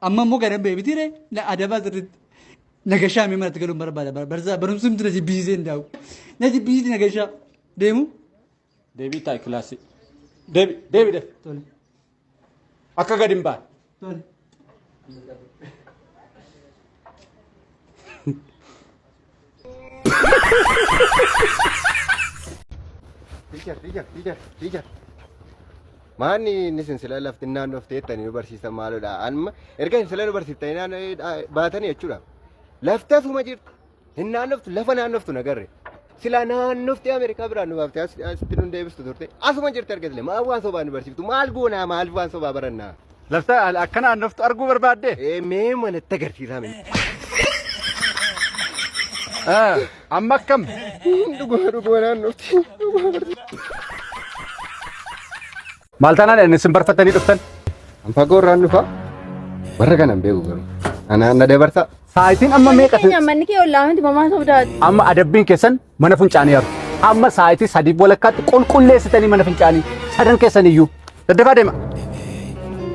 Amma immoo gara beebiti ree na adabaa sirriitti. Na gashaa mee manatti galuun barbaada barsaa barumsi miti na jibbisiisee hin daa'u. Na jibbisiisi na gashaa deemu. Deebii taa'i kilaasii. Deebi deebi deebi. Tole Akka gadi hin baane. tole. Teacher, teacher, teacher, teacher. Maanni inni isin sila lafti naannoo of teettanii nu barsiisan maalodha. Amma erga isin sila nu barsiiftanii naannoo eh, baatanii jechuudha. Lafti asuma jirti. Hin naannoftu lafa naannoftu nagarre. Sila naannofti Ameerikaa biraan nu baaftee as- asitti nu deebistu turte. Asuma jirti erga sila maal waan sobaa nu barsiiftu maal goonaa maal waan sobaa barannaa. Lafta akka naannoftu arguu barbaadde? Ee mee manatti agarsiisaa mee. Ah, Amma akkam? Dhugaa dhugaa naannofti. Dhugaa barsiisa. Maal taanaan isin barfattanii dhuftan? An fagoo irraan dhufa. Warra kana hin beeku garuu. Anaan na dabarsa. Saayitiin amma meeqa? Keenya manni kee ollaa miti mamaa sobdaati. Amma adabbiin keessan mana funcaanii haru. Amma saayitii sadii walakkaatti qulqulleessitanii mana fincaanii sadan keessan iyyuu. Daddafaa deema.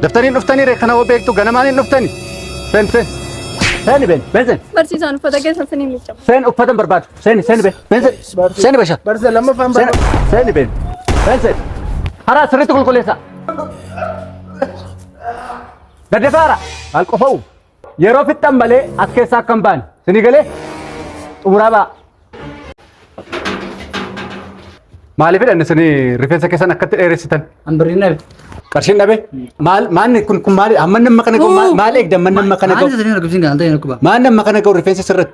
Daftaniin dhuftanii ree kana hoo beektu ganamaan hin dhuftani. Seen seen. Seeni been been seen. Barsiisaan uffata keessa isin hin miiccamu. Seen uffatan barbaadu. Seeni seeni been been seen. Seeni basha. Barsiisa lammaffaan Seeni barbaada. seeni been been seen. Haraa sirriitti qulqulleessaa. Daddafaa haraa. Maal qofa'u? Yeroo fixxan malee as keessaa akka hin baane. Sini galee xumuraa ba'a. Maaliifidha inni sini rifeensa keessan akkatti dheeressitan? An birrii dhabe. Qarshiin dhabe? Maal maanni kun kun maali? Amma namma kana ga'u maal- maal eegda amma namma kana Maal ga'u? jedhanii argisiin kan ta'e dhukkuba. Maal namma kana ga'u rifeensa sirratti?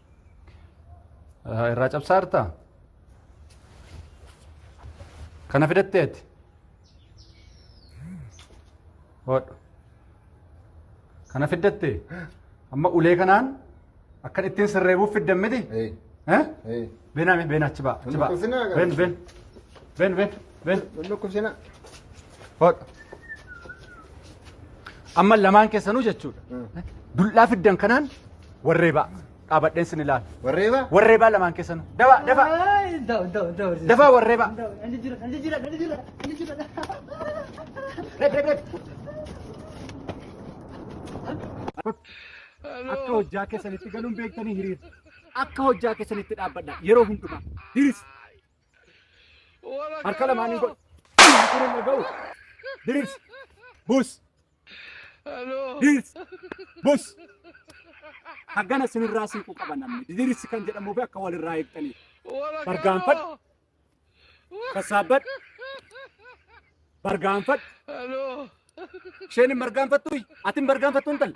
irraa cabsaa jirtaa? Kana fidatteeti? Hodhu. Kana fiddattee? Amma ulee kanaan akkan ittiin sirreebuuf fiddan miti? Eh? Beenaa mee beena achi ba'a achi ba'a. Been been been been. Bel, bel dhukkubsina. Hodha. Amma lamaan keessanuu jechuudha. Dullaa fiddan kanaan warreebaa. Dhaabadheen sin ilaala. Warreebaa? Warreebaa lamaan keessanuu. Dabaa, dabaa. Dabaa warreebaa. Red, red, red. Akka hojjaa keessanitti galuun beektanii hiriira. Akka hojjaa keessanitti dhaabbadha. Yeroo hundumaa. Hiriira. Harka lamaanii godhi. Kun hin dhaga'u. Diriirsi. Buus. Diriirsi. Buus. Haggana sinirraa siiquu qaba namni. Diriirsi kan jedhamuu fi akka walirraa eegtaniif. Bargaanfadhu. Sassaabbadhu. Bargaanfadhu. Isheen hin bargaanfattu. Ati hin bargaanfattu intala.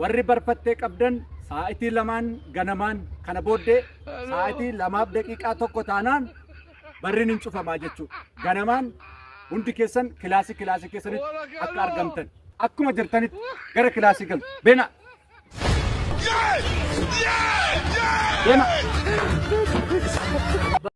Warri barfattee qabdan saa'itii lamaan ganamaan kana booddee saa'itii lamaaf daqiiqaa tokko taanaan barriin hin cufamaa jechuudha. Ganamaan hundi keessan kilaasii kilaasii keessanitti akka argamtan. Akkuma jirtanitti gara kilaasii galu. Beena! Beena!